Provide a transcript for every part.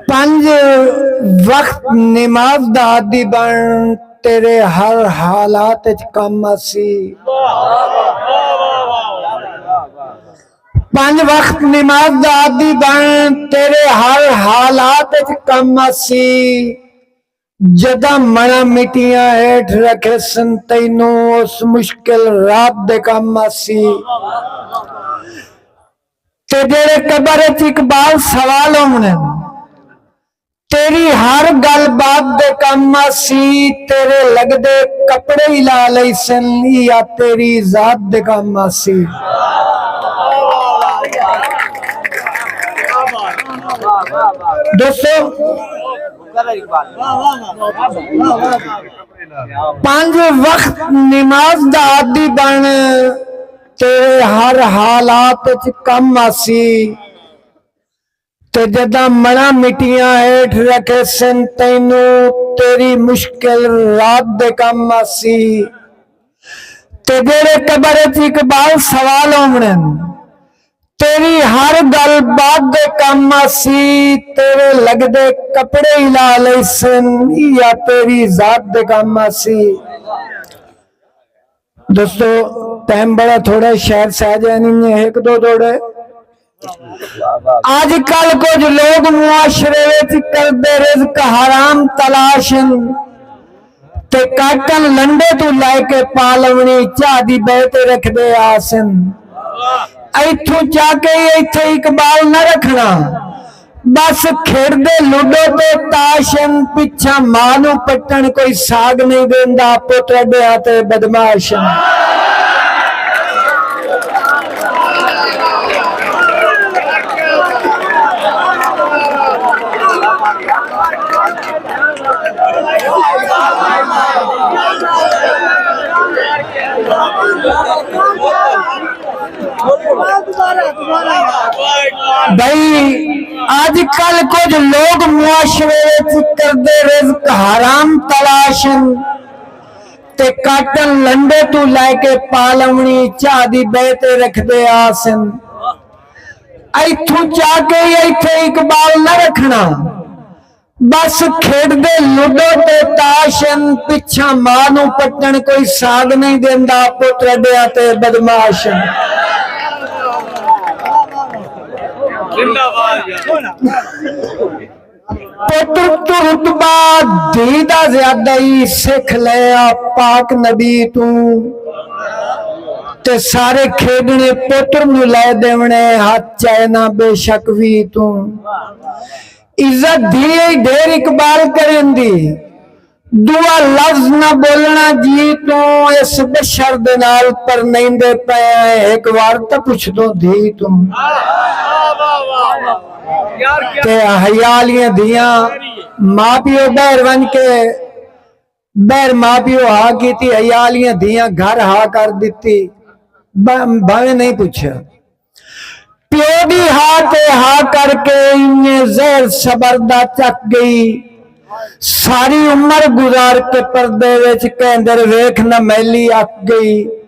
پنج وقت نماز دا عادی بن تیرے ہر حالات اچ کم آسی۔ پنج وقت نماز دا عادی بن تیرے ہر حالات اچ کم آسی۔ جداں مݨاں مٹیاں ہیٹھ رکھیسن تینوں اس مشکل رات دے کم آسی تے جیڑھے قبر اچ اقبال سوال ہووݨن تیݙی ہر گالھ بات دے کم آسی تیݙے لڳدے کپڑے ای لا لیسن ایہا تیݙی ذات دے کم آسی دوستو پنج وقت نماز دا عادی بن تے ہر حالات اچ کم آسی تے جداں مڑاں مٹیاں ہیٹھ رکھیسن تینوں تیری مشکل رات دے کم آسی تے جیڑھے قبر اچ اقبال سوال ہووݨن تیݙی ہر ڳل بعد دے کم آسی، تیݙے لڳدے کپڑے ای لا لئیسن، ایہا تیݙی ذات دے کم آسی۔ دوستو ٹائم بڑا تھوڑا ہے شاید سہ جائے نی میں ہک دو دوڑے اج کل کچھ لوگ معاشرے وچ کردے رزق حرام تلاش ہیں تے کاکن لنڈے توں لے کے پالونی چاہ دی بئے تے رکھدے آسن ایتھوں چا کے ای ایتھے اقبال نہ رکھنا بس کھیڈدے لوڈو تے تاش ہن پچھاں ماء نوں پٹن کوئی ساگ نئیں دیندا پٹ اڈے ہاں تے بدماش ہن۔ اج کل کچھ لوگ معاشرے کردے رزق حرام تلاشن تے کاٹن لنڈے تو لے کے پالونی چاہ دی بیتے رکھ دے آسن ایتھو چاہ کے ایتھے اقبال نہ رکھنا ٻس کھیݙدے لوڈو تے تاش ہن پچھاں ماء نوں پٹݨ کوئی ساڳ نئیں ݙیندا پتر اݙیاں تے بدمعاش ہن۔ پتر توں رتبہ دھی دا زیادہ ای سکھ لئے آ پاک نبی توں تے سارے کھیݙݨے پتر نوں لئے ݙیوݨے ہتھ چائے نہ بے شک وی توں عزت دھی ای ڈھیر اقبال کریں دی دوا لفظ نہ بولنا جی توں اس بشر دے نال پرنیندے پئے ایں ہک وار تاں پچھدوں دھی توں تے حیا آلیاں دھیاں ماں پیو بہر ونج کے بہر ماء پیو ہا کیتی عیالیاں دھیاں گھر ہا کر دتی بھاویں نہیں پچھیا پیو دی ہا تے ہا کر کے انجے زہر صبر دا چک گئی ساری عمر گزار کے پردے وچ کیندر ویکھ نہ میلی اک گئی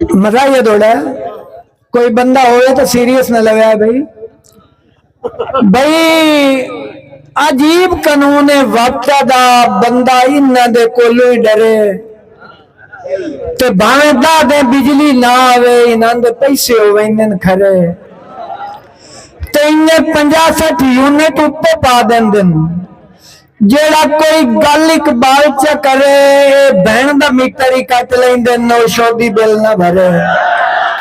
مزہ یہ دوڑا ہے کوئی بندہ ہوئے تو سیریس نہ لگا ہے بھئی بھئی عجیب قانون وقت دا بندہ انہ دے کولی ڈرے تے بھاویں دا دے بجلی نہ آوے انہ دے پیسے ہوئے انہ کھرے تے انہ پنجا سٹھ یونٹ اپے پا دن دن جیڑھا کوئی گل اقبال چا کرے اے بھن دا میٹر ای کٹ لیندن نوشودی بل نہ بھرے۔